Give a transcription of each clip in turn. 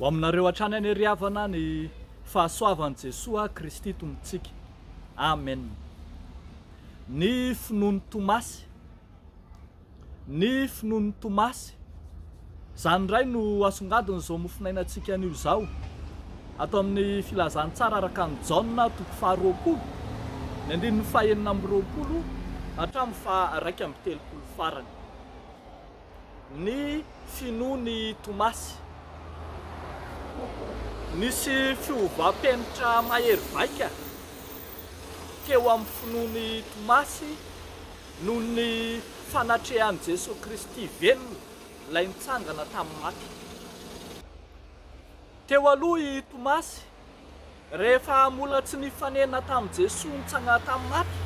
Ho aminareo hatrany anie ry havana ny fahasoavan'i Jesoa Kristy Tompontsika. Amen. Ny finoan'i Tomasy. Ny finoan'i Tomasy. Izany indray no asongadin'izao mofonainantsika anio izao. Ato amin'ny Filazantsara araka an'i Jaona, toko faharoapolo, ny andininy fahenina amby roapolo hatramin'ny faharaika amby telopolo farany. Ny finoan'i Tomasy. Nisy fiovam-penitra mahery vaika teo amin'ny finoan'i Tomasy Noho ny fanatrehan'i Jesoa Kristy velona ilay nitsangana tamin'ny maty. Teo aloha i Tomasy, rehefa mbola tsy nifanena tamin'i Jesoa nitsangana tamin'ny maty,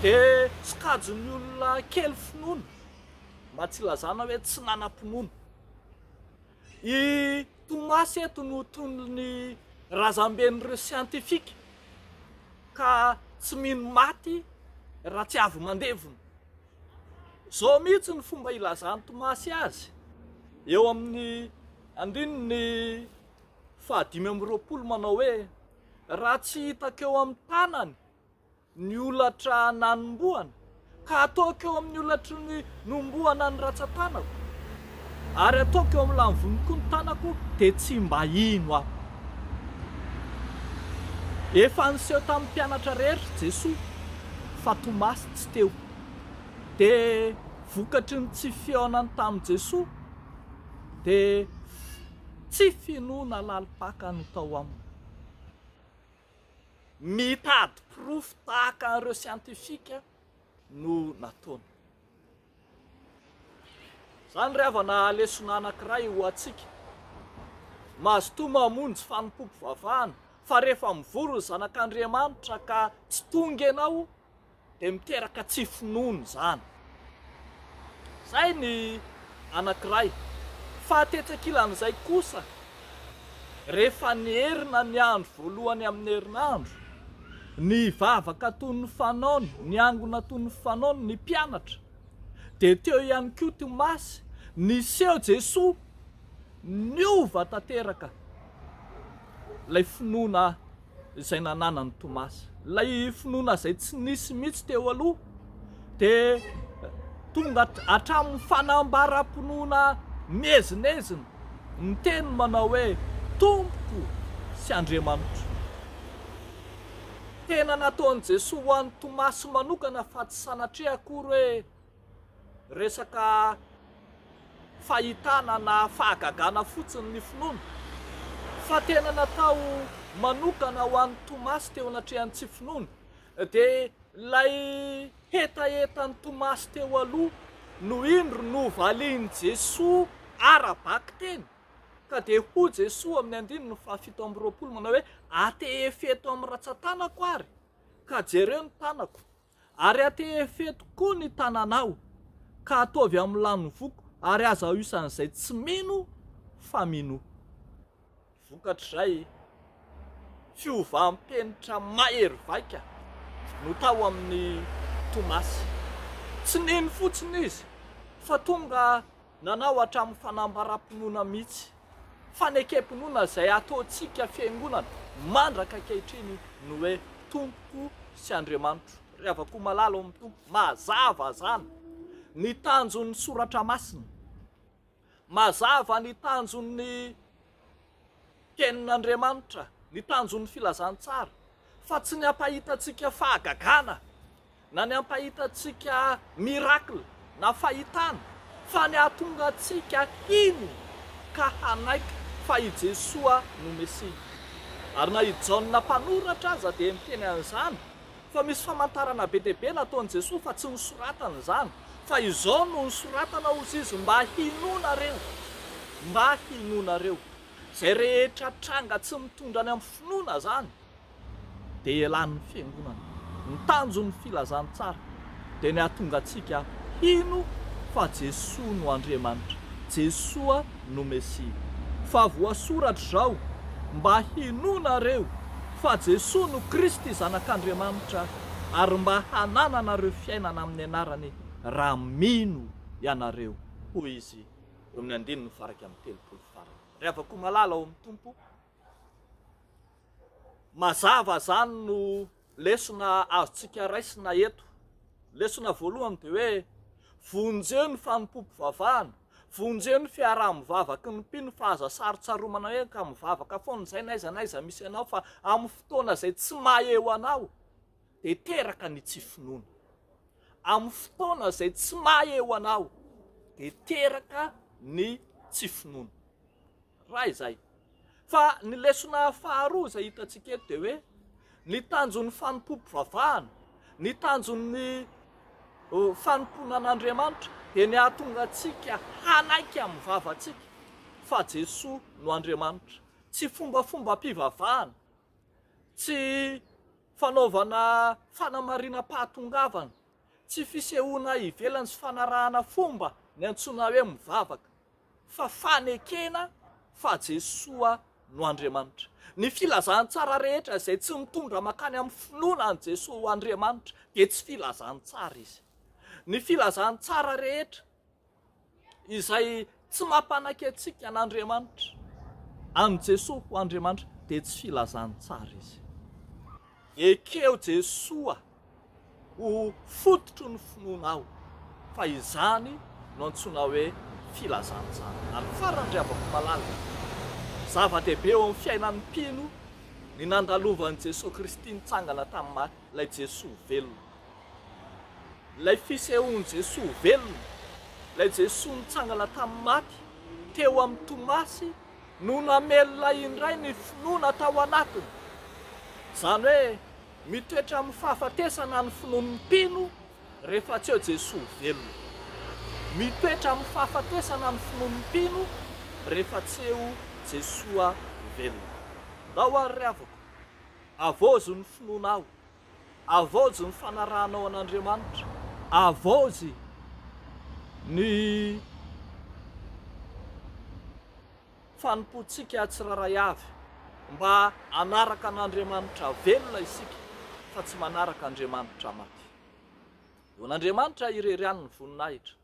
dia sokajin'ny olona kely finoana, mba tsy ilazana hoe tsy nanam-pinoana. I Thomas eto no tonon'ny razamben'ireo siantifika ka tsy mino maty raha tsy avy mandevona. Izao mihitsy ny fomba ilazan'i Thomas azy eo amin'ny andininy fahadimy amby roapolo manao hoe, Raha tsy hitako eo amin'ny tanany ny holatra nanombohana, ka ataoko eo amin'ny holatry ny nombohana ny ratsan-tanako, ary ataoko eo amin'ny lamvoniko ny tanako, dia tsy mba hino aho. Efa niseho tamin'ny mpianatra rehetra i Jesoa fa Tomasy tsy teo. Dia vokatry ny tsy fihaonany tamin'i Jesoa, dia tsy finoana lalim-paka no tao aminy. Mitady porofo tahaka an'ireo siantifika no nataony. Izany ry havana lesona anankiray ho antsika. Mazotoa mamonjy fanompoam-pivavahana fa rehefa mivory ny Zanak'Andriamanitra ka tsy tonga ianao, Dia miteraka tsy finoana izany. Izay ny anankiray. Fa tetsy ankilan'izay kosa, rehefa nierina ny andro voalohany amin'ny herinandro, nivavaka toy ny fanaony, niangona toy ny fanaony ny mpianatra, dia teo ihany koa Tomasy, niseho Jesoa, niova tanteraka ilay finoana izay nananan'i Tomasy. Ilay finoana izay tsy nisy mihitsy teo aloha dia tonga hatramin'ny fanambaram-pinoana miezinezina miteny manao hoe Tompoko sy Andriamanitro. Tena nataon'i Jesoa ho an'i Tomasy manokana fa tsy sanatria akory hoe. Resaka fahitana na fahagagana fotsiny ny finoana fa tena natao manokana ho an'i Tomasy teo anatrehan'ny tsy finoana dia ilay hetahetan'i Tomasy teo aloha no indro novalian'i Jesoa ara-bakiteny ka dia hoy Jesoa amin'ny andininy fahafito amby roapolo manao hoe atehefeto amin'ny ratsan-tanako ary ka jereo ny tanako Ary atehefe tokoa ny tananao, ka ataovy amin'ny lanin'ny voako, ary aza aoisan'izay tsy mino fa minoa. Vokatr'izay, fiovam-penitra mahery vaika no tao amin'i Tomasy. Tsy nino fotsiny izy, fa tonga Nanao hatramin'ny fanambaram-pinoana mihitsy. Fanekem-pinoana izay ataontsika fiangonana mandraka ankehitriny ny hoe Tompo sy Andriamanitro. Ry havako malala ao amin'ny Tompo, mazava izany ny tanjon'ny Soratra Masina. Mazava ny tanjon'ny Tenin'Andriamanitra, ny tanjon'ny filazantsara, fa tsy ny hampahita antsika fahagagana, na ny hampahita antsika miracle na fahitana, fa ny hahatonga antsika hino ka hanaiky fa i Jesoa no Mesia. Ary na i Jaona mpanoratra aza dia miteny an'izany, Fa misy famantarana be dia be nataon'i Jesoa fa tsy nosoratany izany. Fa izao no nosoratana hozy izy mba hinoanareo, mba hinoanareo. Izay rehetra tranga tsy mitondra any amin'ny finoana izany dia elan'ny fiangonana. Ny tanjon'ny filazantsara dia ny hahatonga antsika hino fa Jesoa no Andriamanitra, Jesoa no Mesia. Fa voasoratra izao, Mba hinoanareo fa Jesoa no Kristy Zanak'Andriamanitra, ary mba hanananareo fiainana amin'ny anarany raha mino ianareo, hoy Izy eo amin'ny andininy faha iraika amby telopolo farany. Ry havako malala ao amin'ny Tompo, mazava izany no Lesona azontsika raisina eto, lesona voalohany dia hoe, vonjeo ny fanompoam-pivavahana, vonjeo ny fiaraha-mivavaky ny mpino fa aza sarotsaromana hoe ka mivavaka foana izay n'aiza n'aiza misy anao fa amin'ny fotoana izay tsy maheo anao dia teraka ny tsy finoana. Amin'ny fotoana izay tsy maheo anao dia teraka ny tsy finoana. Raha izay. Fa ny lesona faharoa izay hitantsika eto dia hoe ny tanjon'ny fanompoam-pivavahana, ny tanjon'ny fanompoana an'Andriamanitra dia ny hahatonga antsika hanaiky amin'ny vavantsika fa Jesoa no Andriamanitra. Tsy fombafombam-pivavahana, tsy fanaovana fanamarinam-pahatongavana, tsy fisehoana ivelany sy fanarahana fomba niantsoana hoe mivavaka. fa fanekena fa Jesoa no Andriamanitra. Ny filazantsara rehetra izay tsy mitondra mankany amin'ny finoana an'i Jesoa ho Andriamanitra dia tsy filazantsara izy. Ny filazantsara rehetra izay tsy mampanaiky antsika an'Andriamanitra, an'i Jesoa ho Andriamanitra dia tsy filazantsara izy. Ekeo Jesoa ho fototry ny finoanao fa izany no antsoina hoe filazana izany. Ary farany ry havako malala, zava-dehibe eo amin'ny fiainan'ny mpino ny nandalovan'i Jesoa Kristy nitsangana tamin'ny maty, ilay Jesoa velona, ilay fisehoan'i Jesoa velona, ilay Jesoa nitsangana tamin'ny maty teo amin'i Tomasy no namelona indray ny finoana tao anatiny. Izany hoe Mitoetra amin'ny fahafatesana ny finoan'ny mpino rehefa tsy eo Jesoa velona. Mitoetra amin'ny fahafatesana ny finoan'ny mpino rehefa tsy eo Jesoa velona. Ndao ary ry havako, avaozy ny finoanao, avaozy ny fanarahanao an'Andriamanitra, avaozy ny. fanompoantsika tsirairay avy mba hanaraka an'Andriamanitra velona isika fa tsy manaraka Andriamanitra maty. Eo an'Andriamanitra irery ihany ny voninahitra.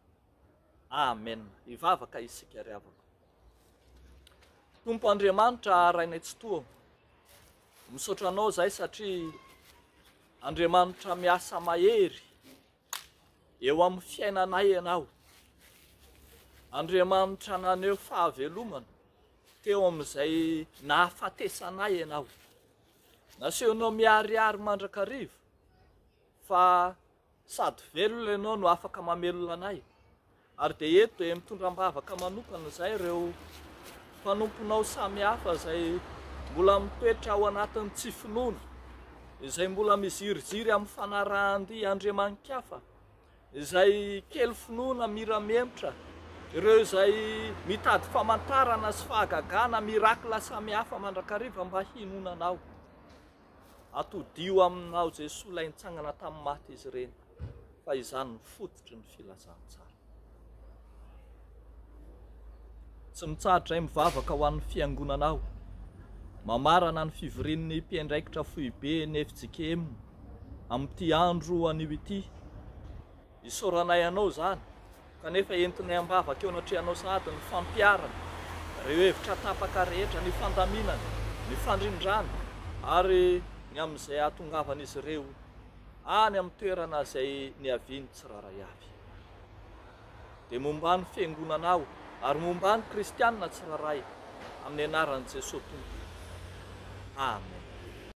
Amen. Hivavaka isika ry havako. Tompo Andriamanitra Rainay Tsitoha, misaotra anao zay satria Andriamanitra miasa mahery Eo amin'ny fiainanay ianao. Andriamanitra naneho fahavelomana teo amin'izay nahafatesanay ianao. Nasehonao miharihary mandrakariva fa sady velona ianao no afaka mamelona anay. Ary dia eto dia mitondra am-bavaka manokana izay ireo mpanomponao samihafa izay mbola mitoetra ao anatin'ny tsy finoana, izay mbola miziriziry amin'ny fanarahan-dia andriamani-kafa, izay kely finoana miramemotra, ireo izay mitady famantarana sy fahagagana, miracle samihafa mandrakariva mba hinoana Anao. Atodiho aminao Jesoa ilay nitsangana tamin'ny maty izy ireny fa izany ny fototry ny filazantsara. Tsy mitsahatra izay mivavaka ho an'ny fiangonana aho. Mamarana ny fivorian'ny mpiandraikitra foibe ny FJKM amin'ity andro anio ity. Isaoranay anao izany, kanefa entinay am-bavaka eo anatrehanao sahady ny fampiharana ireo hevitra tapaka rehetra, ny fandaminana, ny fandrindrana ary ny amin'izay hahatongavan'izy ireo any amin'ny toerana izay niaviany tsirairay avy. Dia momba ny Fiangonanao ary momba ny Kristianina tsirairay, amin'ny anaran'i Jesoa Tompo. Amen.